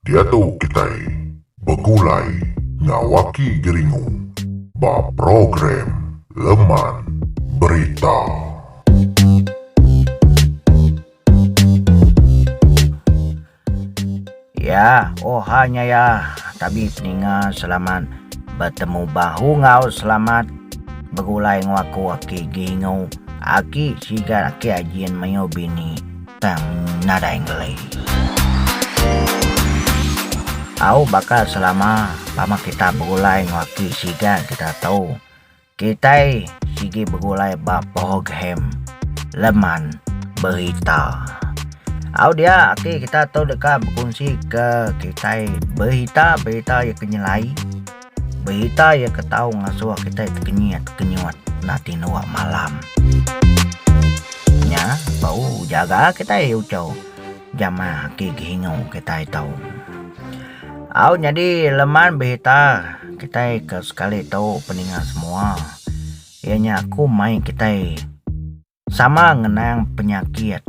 Diatu kitai begulai ngawaki geringu ba program Leman Berita. Ya, oha nya ya. Tabi seninga selamat betemu bahu enggau selamat begulai enggau aku aki Gingu. Aki sigat aki Ajin mayuh bini tang nadai ngeli. Au baka selama baka kita begulai enggau aki sigat kita tu. Kitai sigi begulai ba program Leman Berita. Au dia ati kita tu deka bekunsi ke kitai berita-berita iya ke nyelai, berita iya ke tau ngasuh kitai tekenyit-tekenyut enda ti nuwa malam. Nya bau jaga kitai uchu jamah agi gihingu kitai tu. Au nyadi leman berita kitai ke sekali tu peninga semua iya nya aku mai kitai sama ngenang penyakit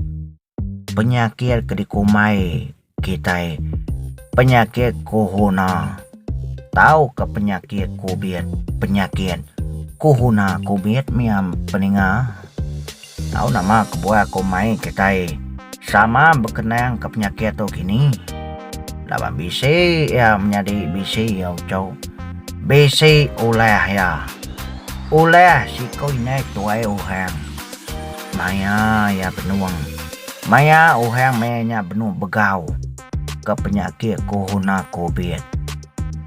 penyakit ke dikumbai kitai penyakit corona tau ke penyakit covid penyakit corona covid mih am peninga. Tau nama kebuah ko mai kitai sama bekenang ke penyakit tu kini? Laban bisi iya menyadi bisi iya uchok, bisi ulah iya. Ulah siko indai ketuai orang. Maya iya benung. Maya orang maya nya benung begau. ke penyakit Corona Covid,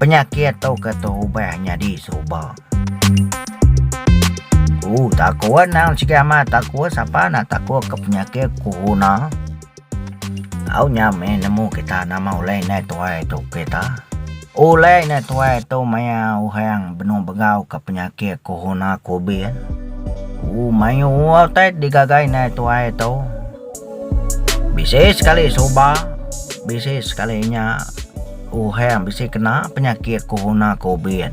penyakit tu ke terubah nyadi seruba. Ku Takua endang sigi amat Takua sapa enda takut ke penyakit Corona. Au nya meh nemu kita nama ulih indai tuai tu kita. Ulih indai tuai tu maya orang benung begau ke penyakit Corona Covid. Ku mayuh utai digaga indai tuai tu. Bisi sekali suba, bisi sekali nya uhang bisi kena penyakit corona covid.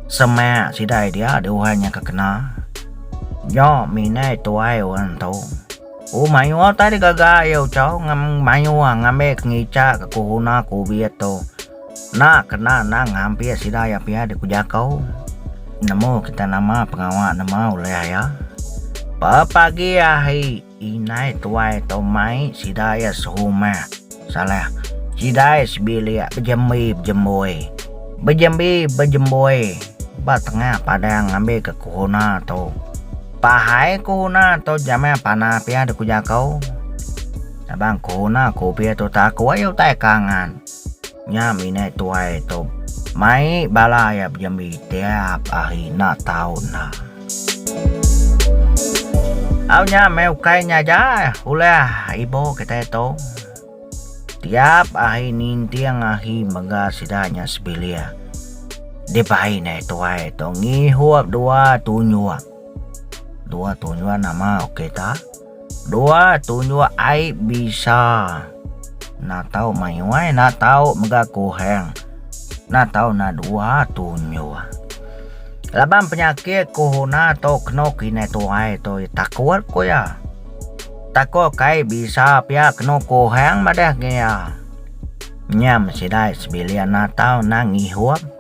Semak sida dia deh uhang nya ke kena. Nyok minai tuai orang tu. Oh mayuh utai deh gaga iya uchau ngan mayuh ngambi ke ngicha ke corona covid tu. Enda kena nang ngampit sida iya pia deh ku jaku. Nemu kita nama pengawa nemu ulih iya. Pepagi ahi. Indai tuai tau mai sida iya serumah. Salah. Sidai sebilik bejembi bejemboi. Bejembi bejemboi ba tengah padang ngambika kuhuna tu. Pahai kuhuna tu jamah pana pia deka jaku. Sabang kuhuna kupi tu ta aku ai utai kangan. Nya mih indai tuai tu mai bala iya bejembi tiap hari enda tau enda. Au nya meh ukai nya aja ulih ibu kitai tu. Tiap ahi ninting ahi mega sida nya sebilik dibai nai tuai tu ngihup dua tunyuk. Dua tunyuk nama ok ta. Dua, tunjuk ai bisa. Nak tau mayuh ai, nak tau mega kuhang. Nak tau na dua, tunjuk. Laban penyakit kohona tu kenu kinih tuai tu takut ku iya. Takut kai bisa pia kenu kuhang madah ke iya. Nyam sidai sebilik nak tau na ngihup.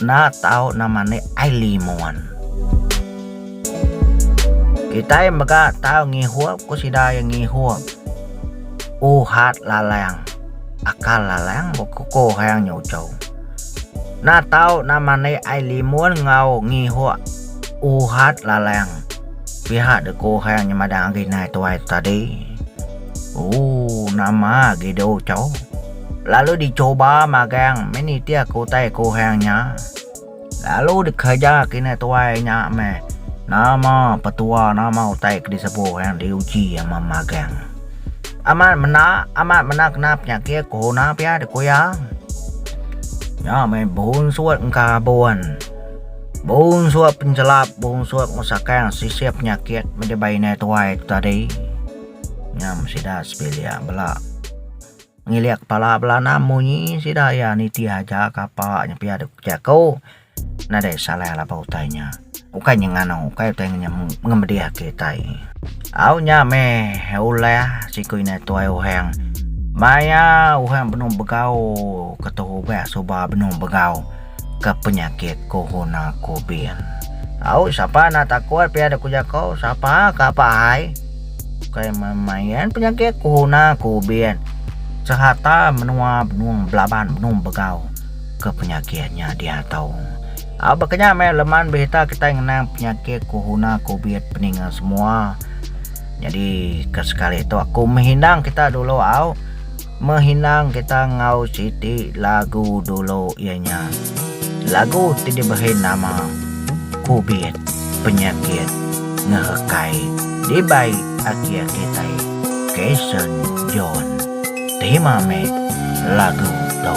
Enda tau nama enda Aili Muan. Kitai mega tau ngihup ku sida iya ngihup. Uhat lalang, akal lalang bekuko hayang nya uchau. Enda tau nama enda Aili Muan enggau ngihup uhat lalang. Pihak dek ko hayang nya madah agi nai tuai tadi. Ooh nama agi deh uchau. Lalu dicuba magang meh nitih ke utai ke orang nya. Lalu dikereja kina tuai nya meh nama petua nama utai ke disebu orang diuji ama magang. Amat menda amat menda kena penyakit corona pia deh ku iya. Nya meh bunsut engka abun. Bunsut penjelap bunsut ngerusakan sisip penyakit meh dibai inai tuai tu tadi. Nyam sida sebilik bela. Ngilik kepala belanam munyi sida iya nitih aja kapa nya pia dok ke jaku nadai salah laban ba utai nya ukai nya nganu ukai utai nya ngemedih ati utai au nya meh ulah siku ina tuai uhang maya uhang benung begau ketu ubah suba benung begau. ke penyakit Corona Covid. Au sapa enda takut pia dek ku jako sapa ke apak ahai bukai main-main penyakit Corona Covid serata menua benung belaban benung begau ke penyakit nya diato. Au baka nya meh leman berita kitai ngenang penyakit Corona Covid peninga semua jadi ke sekali tu aku meh indang kita dulu au. Mehinang kita enggau siti lagu dulu iya nya lagu ti dibehe nama Kubit Penyakit Ngerekai dibai akie kitai Kason John. Terima meh lagu tu.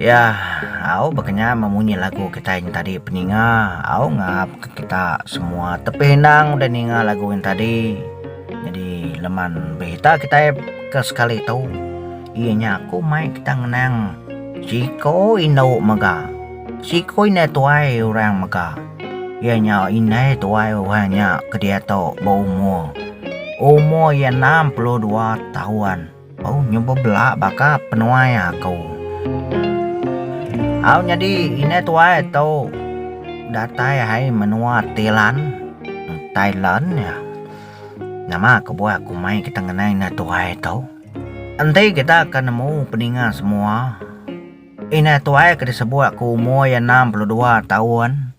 Iya, au bekenyah memunyi lagu kitai nya tadi peninga, au ngapka kita semua tepih endang udah ninga lagu nya tadi. Nyadi leman berita kitai ke sekali tu iya nya ku mai kita ngenang siko indu mega, siko indai tuai orang mega iya nya indai tuai orang nya ke diatu berumur, umur iya 62 taun. Au nyu bebela baka penuai aku. Au nyadi inai tuai tu datai hai menua Thailand Thailand nya. Nama kebuah aku mai kita ngenai inai tuai tu. Enti kita ke nemu peninga semua inai tuai ke disebut aku umur iya enam puluh dua taun.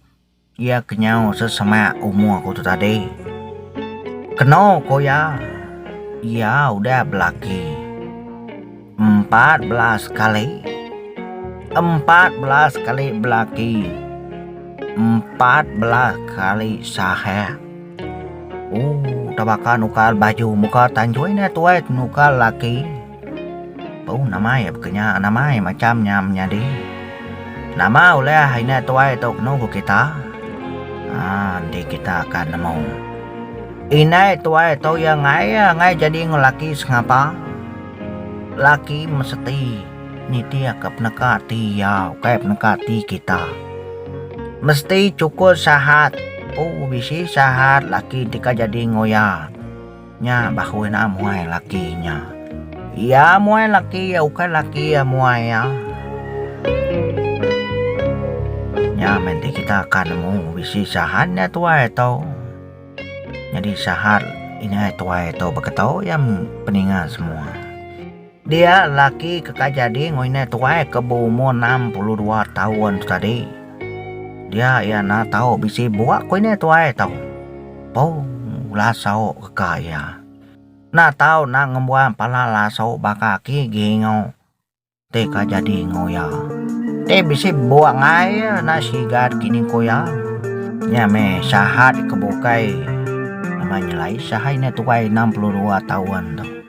Iya kenyau sesama umur aku tu tadi. Keno ko iya, iya udah belaki empat belas kali. Empat belas kali belaki. Empat belas kali sahak. Oh, tabaka nukar baju muka tanjui ne tuai nukar laki. Bau namai baka nya namai macham nya menyadi. Nama ulih inya tuai tu kenu ku kita? Haa enti kita ka nemu. Indai tuai tu iya ngai iya ngai jadi enggau laki sengapa. Laki meseti nitihka peneka ati iya ukai peneka ati kita. Mesti chukus sahat. Poo bisi sahat laki ti ka jadi enggau iya. Nya bahu ina muai laki nya. Ia muai laki ia ukai laki ia muai ia. Nya menti kita akan nemu bisi sahan nya tuai tu. Nyadi sahan inya tuai tu beketu ia peninga semua. Dia lelaki ke kai jadi ngelinda tuai ke beumur enam puluh dua taun tu tadi. Dia iya enda tau bisi bua ku ini tuai tu. Pung laso ka iya. Enda tau enda ngembuan pala laso baka aki Geingo ti ka jadi enggau iya. Ti bisi bua ngai iya enda sigat kini ku iya. Nya meh sahat ke bukai nama nyelai sahat ini tuai enam puluh dua taun tu.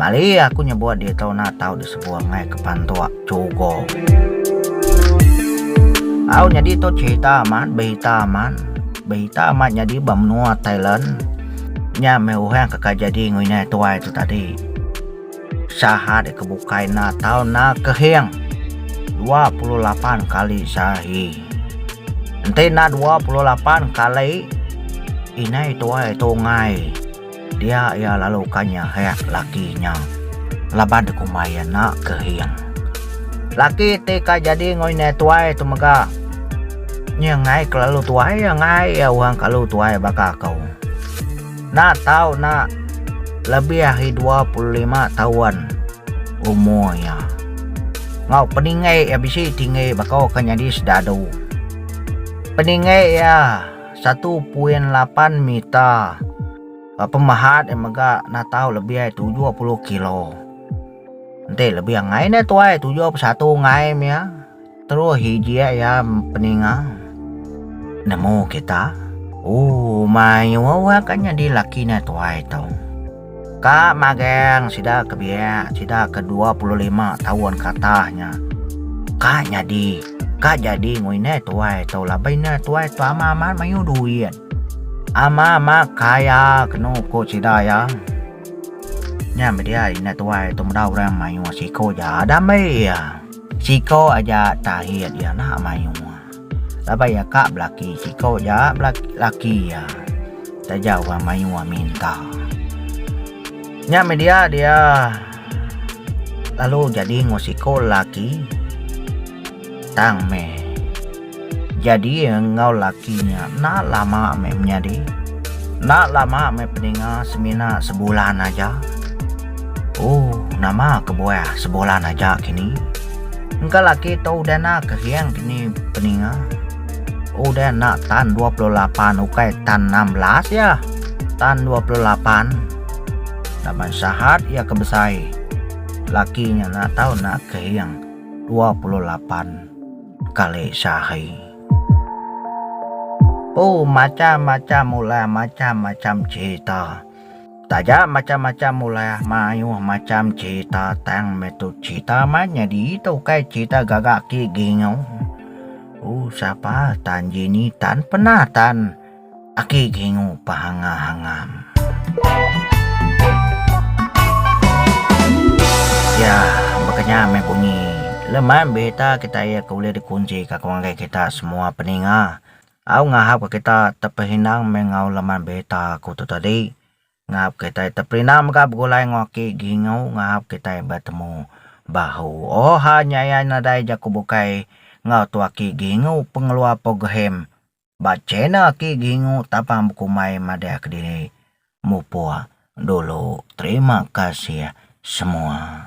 Mali aku nyebut ditu na tau disebur ngai kepantuk chugo. Au nyadi tu cerita amat berita amat. Berita amat nyadi ba menua Thailand. Nya meh orang ke ka jadi nginai tuai tu tadi. Saha deka bukai enda tau na kehing. 28 kali sahi. Enti enda 28 kali inai tuai tu ngai. Dia iya lalu ka nyehek laki nya laban dikumbai iya enda kehing. Laki ti ka jadi enggau indai tuai tu mega nya ngai kelalu tuai iya ngai iya orang kalu tuai baka aku. Enda tau enda lebih ari dua puluh lima taun umur iya. Enggau peninggi iya bisi tinggi baka ke nyadi sedadu. Peninggi iya. Satu poin lapan meter. Ba pemahat eh mega natau lebih ai tujuh puluh kilo. Enti lebih angai ne tuai tujuh puluh satu angai mia. Terus hijik ya peninga. Nemu kita. Oh, mayuh akan nyadi laki ne tuai tu. Ka magang sida ke biak, sida ke dua puluh lima taun ke atas nya. Ka nyadi, ka jadi ngoi indai tuai tu laban indai tuai tu amat amat mayuh duit. Amat amat kaya kenu ku sida iya. Nya meh dia indai tuai tu meda orang mayuh siko ja. Dame iya, siko aja tahi dia enda mayuh. Laban iya ka belaki siko ja laki iya taja orang mayuh minta. Nya meh dia dia lalu jadi enggau siko laki tang meh jadi enggau laki nya enda lama meh menyadi enda lama meh peninga semina sebulan aja ooh nama kebuah sebulan aja kini. Engka laki tu udah na kering kini peninga. Udah na tan 28 ukai tan 16 ya. Tan 28. Laban sahat ya ke besai. Laki nya na tau na kering 28 kali sehari. Oh macam-macam ulah macam-macam cerita. Taja macham-macham ulah mayuh macham cherita tang meh tu cherita man nyadi tu ukai cherita gaga ti gingu. Uh sapa tan Jenny tan pernah tan aki gingu pahangam-hangam. Ya baka nya meh bunyi leman berita kita iya ke ulih dikunsi ka ku ngagai kita semua peninga. Au ngahapka kita tepehindang meh enggau laman berita aku tu tadi, ngahap kitai teperindah mega begulai enggau aki Gingu ngahap kitai betemu bahu. Oh ha nya iya nadai jaku bukai enggau tu aki Gingu pengeluar program ba channel aki Gingu tapang bekumbai madah kediri. Mupuk dulu. Terima kasih semua.